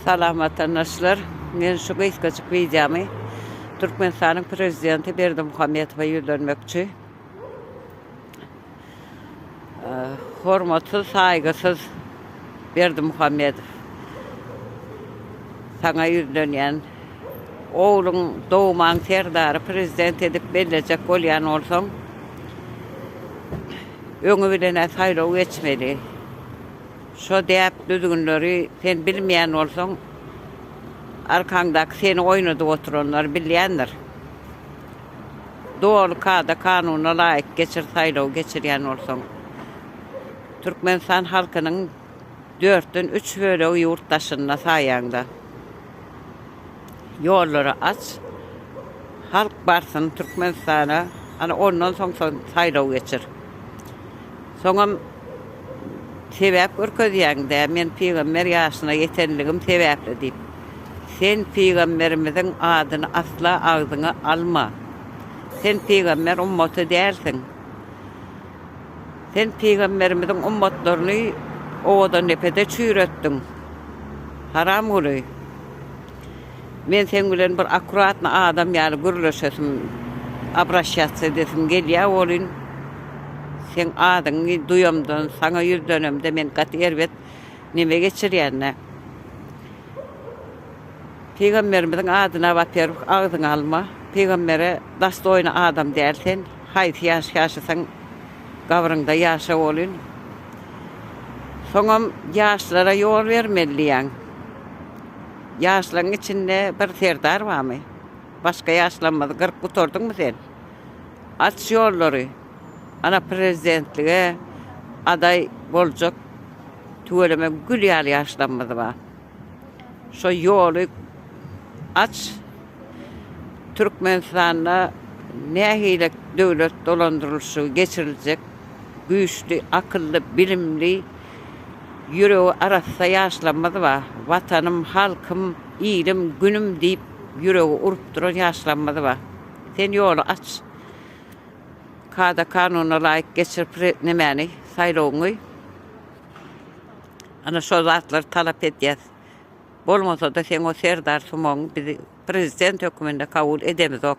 Salam watandaşlar. Men şu gysgajyk wideomy Türkmenistanyň prezidenti Berdimuhamedowa ýüzlenmekçi. Hormatsyz, saýgysyz Berdimuhamedow. Saňa ýüzlenýän. Ogluň dogman Serdary prezident edip bellejek bolýan bolsaň, öňi bilen-ä saýlaw geçmeli. Şo däp düzgünleri sen bilmeýän bolsaň, arkaňdaky seni oýnadyp oturanlar bilýändir. Doly kada-kanuna laýyk geçir saýlaw geçirýän bolsaň. Türkmenistan halkynyň dörtden üç bölegi ýurt daşynda saýaňda. Ýollary aç, halk barsyn Türkmenistana, ana ondan soň saýlaw geçir. Soňam sebäp görkezýäňdä, men pygamber ýaşyna ýetenligim sebäpli diýip. Sen pygamberimiziň adyny asla agzyňa alma. Sen pygamber ummaty dälsiň. Sen pygamberimiziň ummatlaryny owadandepede çüýretdiň. Haramguly. Men seň bilen bir akkuratny adam ýaly gürleşesim, abraşýas edesim gelýä welin, seň adyňy duýamdan, saňa ýüzlenemde men gaty erbet neme geçirýän-dä. Pygamberimiziň adyna waperwih agzyňa alma, pygambere dastoýny adam däl sen, haýsy ýaş ýaşasaň gabryňda ýaşa welin, soňam ýaşlara ýol bermeli diýýäň. Ýaşlaň içinde bir serdar barmy? Başga ýaşlarymyzy gyryp gutardyňmy sen? Aç ýollary! Ana prezidentlige adaý boljak tüweleme gül ýaly ýaşlarymyz bar. Şo ýoly aç! Türkmenistanda nähili döwlet dolandyrylyşygy geçiriljek? Güýçli, akylly, bilimli Ýüregi arassa ýaşlarymyz bar. Watanym, halkym, ilim, günüm diýip, ýüregi urup duran ýaşlarymyz bar. Sen ýoly aç, kada-kanuna laýyk geçir pre, nemäni, saýlawyňy. Ana, şol zatlary talap edýäs. Bolmasa-da, seň o Serdar Sumagyňy biz prezident höküminde kabul edemizok.